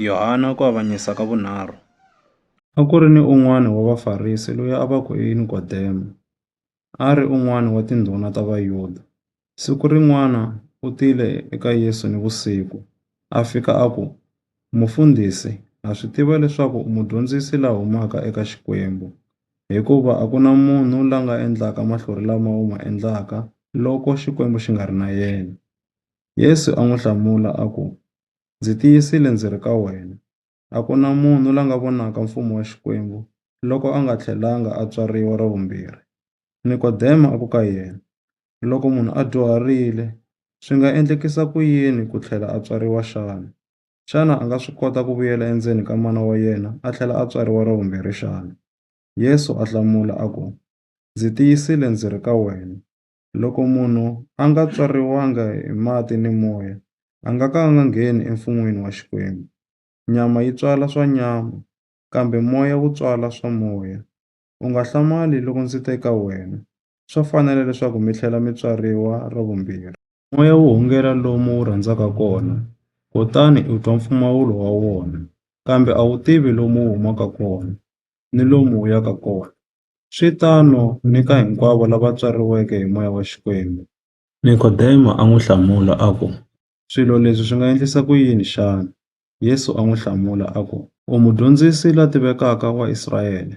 Yohana ku avanyisa ka vunharhu. A ku ri ni un'wana wa Vafarisi loyi a va ku i Nikodemo, a ri un'wana wa tindhuna ta Vayuda. Siku rin'wana u tile eka Yesu nivusiku, a fika a ku, Mufundhisi, ha swi tiva leswaku u mudyondzisi la humaka eka Xikwembu, hikuva a ku na munhu la nga endlaka mahlori lama u ma endlaka loko Xikwembu xi nga ri na yena. Yesu a n'wi hlamula a ku, Ndzi tiyisile ndzi ri ka wena, a ku na munhu la nga vonaka Mfumo wa Xikwembu loko a nga tlhelanga a tswariwa ra vumbirhi. Nikodema a ku ka yena, Loko munhu a dyuharile, swi nga endlekisa ku yini ku tlhela a tswariwa xana? Xana a nga swi kota ku vuyela endzeni ka mana wa yena a tlhela a tswariwa ra vumbirhi xana? Yesu a hlamula a ku, Ndzi tiyisile ndzi ri ka wena, Loko munhu a nga tswariwanga hi mati ni Moya, a nga ka a nga ngheni eMfun'weni wa Xikwembu. Nyama yi tswala swa nyama, kambe Moya wu tswala swa Moya. U nga hlamali loko ndzi te ka wena, Swa fanela leswaku mi tlhela mi tswariwa ra vumbirhi. Moya wu hungela lomu wu rhandzaka kona, kutani u twa mpfumawulo wa wona, kambe a wu tivi lomu wu humaka kona, ni lomu wu yaka kona. swi tano ni ka hinkwavo lava tswariweke hi moya wa Xikwembu. Nikodemo a n'wi hlamula a ku, Swilo leswi swi nga endlisa ku yini xana? Yesu a n'wi hlamula a ku, U Mudyondzisi la tivekaka wa Israyele,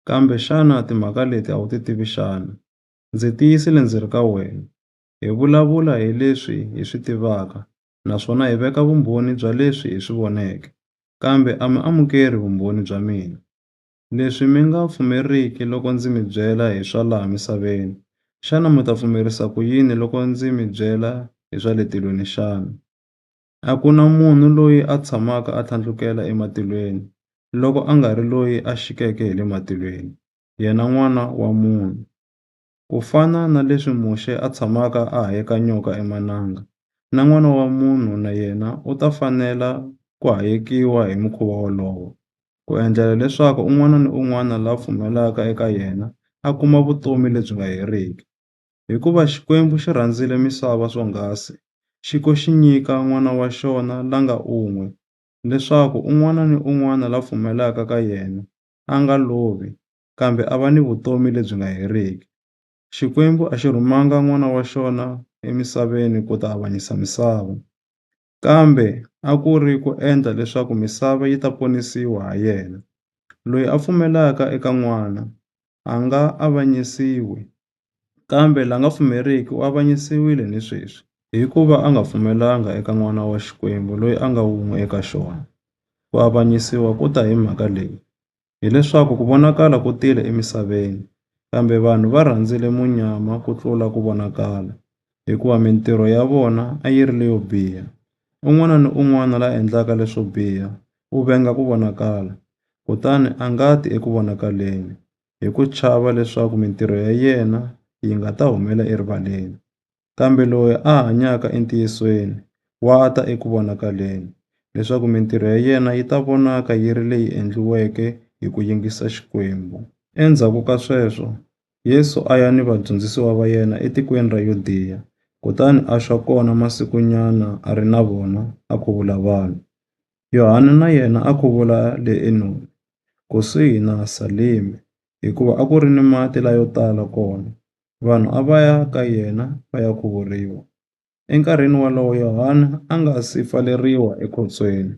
kambe xana timhaka leti a wu ti tivi xana? Ndzi tiyisile ndzi ri ka wena, hi vulavula hi leswi hi swi tivaka naswona hi veka vumbhoni bya leswi hi swi voneke, kambe a mi amukeri vumbhoni bya mina. Leswi mi nga pfumeriki loko ndzi mi byela hi swa laha misaveni, xana mi ta pfumerisa ku yini loko ndzi mi byela hi swa le tilweni xana? A ku na munhu loyi a tshamaka a tlhandlukela ematilweni, loko a nga ri loyi a xikeke hi le matilweni, yena N'wana wa munhu. Ku fana na leswi Muxe a tshamaka a hayeka nyoka emananga, na N'wana wa munhu na yena u ta fanela ku hayekiwa hi mukhuva wolowo, ku endlela leswaku un'wana ni un'wana la pfumelaka eka yena a kuma vutomi lebyi nga heriki. Hikuva Xikwembu xi rhandzile misava swonghasi, xi ko xi nyika N'wana wa xona la nga un'we, leswaku un'wana ni un'wana la pfumelaka ka yena a nga lovi, kambe a va ni vutomi lebyi nga heriki. Xikwembu a xi rhumanga N'wana wa xona emisaveni ku ta avanyisa misava, kambe a ku ri ku endla leswaku misava yi ta ponisiwa ha yena. Loyi a pfumelaka eka N'wana a nga avanyisiwi, kambe la nga pfumeriki u avanyisiwile ni sweswi, hikuva a nga pfumelanga eka N'wana wa Xikwembu loyi a nga wun'we eka xona. Ku avanyisiwa ku ta hi mhaka leyi, hi leswaku ku vonakala ku tile emisaveni, kambe vanhu va rhandzile munyama ku tlula ku vonakala, hikuva mintirho ya vona a yi ri leyo biha. Un'wana ni un'wana la endlaka leswo biha u venga ku vonakala, kutani a nga ti eku vonakaleni, hi ku chava leswaku mintirho ya yena yi nga ta humela erivaleni. Kambe loyi a hanyaka entiyisweni wa ta eku vonakaleni, leswaku mintirho ya yena yi ta vonaka yi ri leyi endliweke hi ku yingisa Xikwembu. Endzhaku ka sweswo, Yesu a ya ni vadyondzisiwa va yena etikweni ra Yudiya, kutani a xa kona masikunyana a ri na vona, a khuvula vanhu. Yohane na yena a khuvula le Enoni, kusuhi na Salime, hikuva a ku ri ni mati layo tala kona. vanhu a va ya ka yena va ya khuvuriwa. Enkarhini wolowo, Yohana a nga si pfaleriwa ekhotsweni.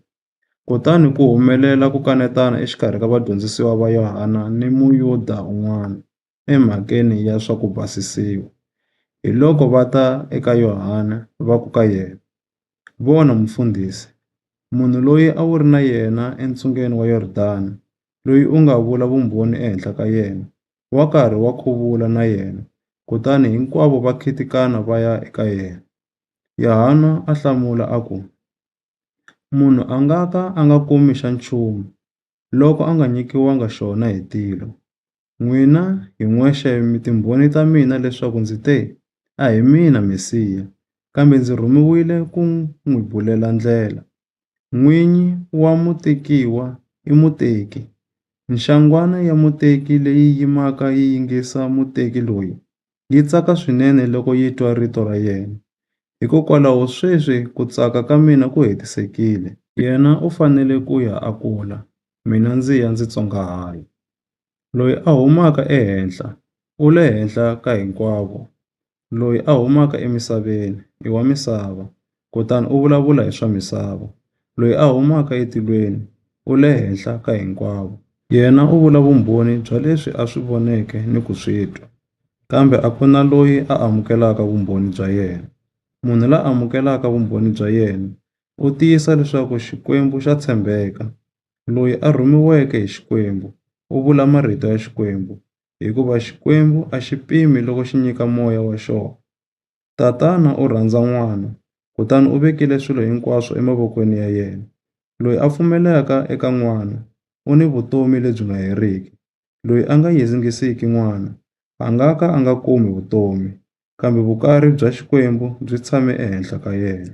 Kutani ku humelela ku kanetana exikarhi ka vadyondzisiwa va Yohana ni Muyuda un'wana emhakeni ya swa ku basisiwa. Hiloko va ta eka Yohana va ku ka yena, Vona, Mufundhisi, munhu loyi a wu ri na yena entsungeni wa Yordani, loyi u nga vula vumbhoni ehenhla ka yena, wa karhi wa khuvula na yena, kutani hinkwavo va khitikana va ya eka yena. Yahana a hlamula a ku, Munhu a nga ka a nga kumi xa nchumu loko a nga nyikiwanga xona hi tilo. N'wina hi n'wexe mi timbhoni ta mina leswaku ndzi te, A hi mina Mesiya, kambe ndzi rhumiwile ku n'wi bulela ndlela. N'winyi wa mutekiwa i muteki. Nxangwana ya muteki leyi yimaka yi yingisa muteki loyi, yi tsaka swinene loko yi twa rito ra yena. Hikokwalaho sweswi ku tsaka ka mina ku hetisekile. Yena u fanele ku ya a kula, mina ndzi ya ndzi tsongahala. Loyi a humaka ehenhla u le henhla ka hinkwavo, loyi a humaka emisaveni i wa misava kutani u vulavula hi swa misava. Loyi a humaka etilweni u le henhla ka hinkwavo. Yena u vula vumbhoni bya leswi a swi voneke ni ku swi twa, kambe a ku na loyi a amukelaka vumbhoni bya yena. Munhu la amukelaka vumbhoni bya yena u tiyisa leswaku Xikwembu xa tshembeka. Loyi a rhumiweke hi Xikwembu u vula marito ya Xikwembu, hikuva Xikwembu a xi pimi loko xi nyika Moya wa xona. Tatana u rhandza N'wana kutani u vekile swilo hinkwaswo emavokweni ya yena. Loyi a pfumelaka eka N'wana u ni vutomi lebyi nga heriki. Loyi a nga yingisiki N'wana a nga ka a nga kumi vutomi, kambe vukari bya Xikwembu byi tshame ehenhla ka yena.